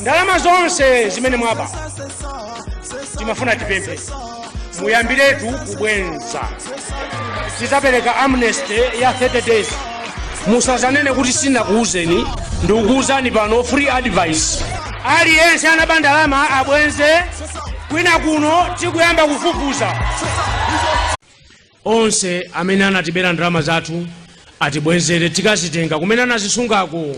ndalama zonse zimene mwaba timafuna tipemphe muyambiretu kubweza tizapereka amnesty ya 30 days musazanene kuti sinakuuzeni ndikukuuzani pano free advice aliyense anaba ndalama abwenze kwina kuno tikuyamba kufufuza onse amene anatibera ndalama zathu atibwezere tikazitenga kumene anazisungako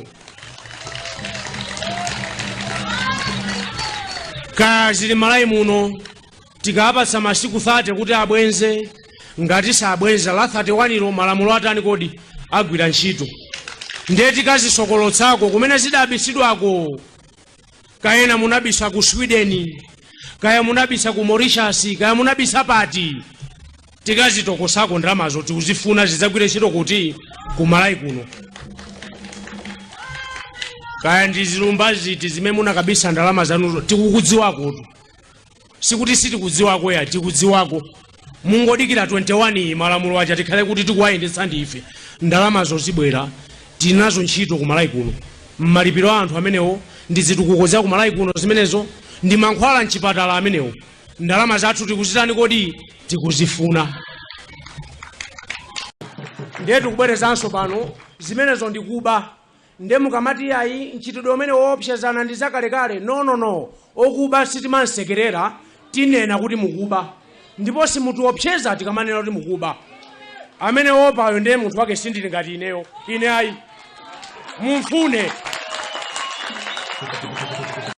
kaya zili Malawi muno tikapatsa masiku 30 kuti abwenze ngati sabwenza la 31 ilo malamulo atani kodi agwira ntchito ndiye tikazisokolotsako kumene zidabisidwako kayena munabisa ku sweden kaya munabisa ku Mauritius kaya munabisa pati tikazitokosako ndalamazo tikuzifuna zidzagwire ntchito kuti ku Malawi kuno kaya ndi zilumba ziti zimene munakabisa ndalama zanuzo tikukudziwakotu sikuti sitikudziwako ya tikudziwako mungodikira 21 May malamulo aja tikhale kuti tikuwayendetsa ndi ife ndalamazo zibwera tinazo ntchito ku malawi kuno mmalipiro a anthu amenewo ndi zitukuko za ku malawi kuno zimenezo ndi mankhwala mchipatala amenewo ndalama zathu tikuzitani kodi tikuzifuna ndiye tikubwerezanso pano zimenezo ndikuba nde mukamati iyayi mchitidwe umene woopsezana ndi zakalekale nonono wokuba sitimamsekerera tinena kuti mukuba ndipo simutiopseza tikamanena kuti mukuba amene woopayo ndiye munthu wake sindili ngati ineyo ine ayi mumfune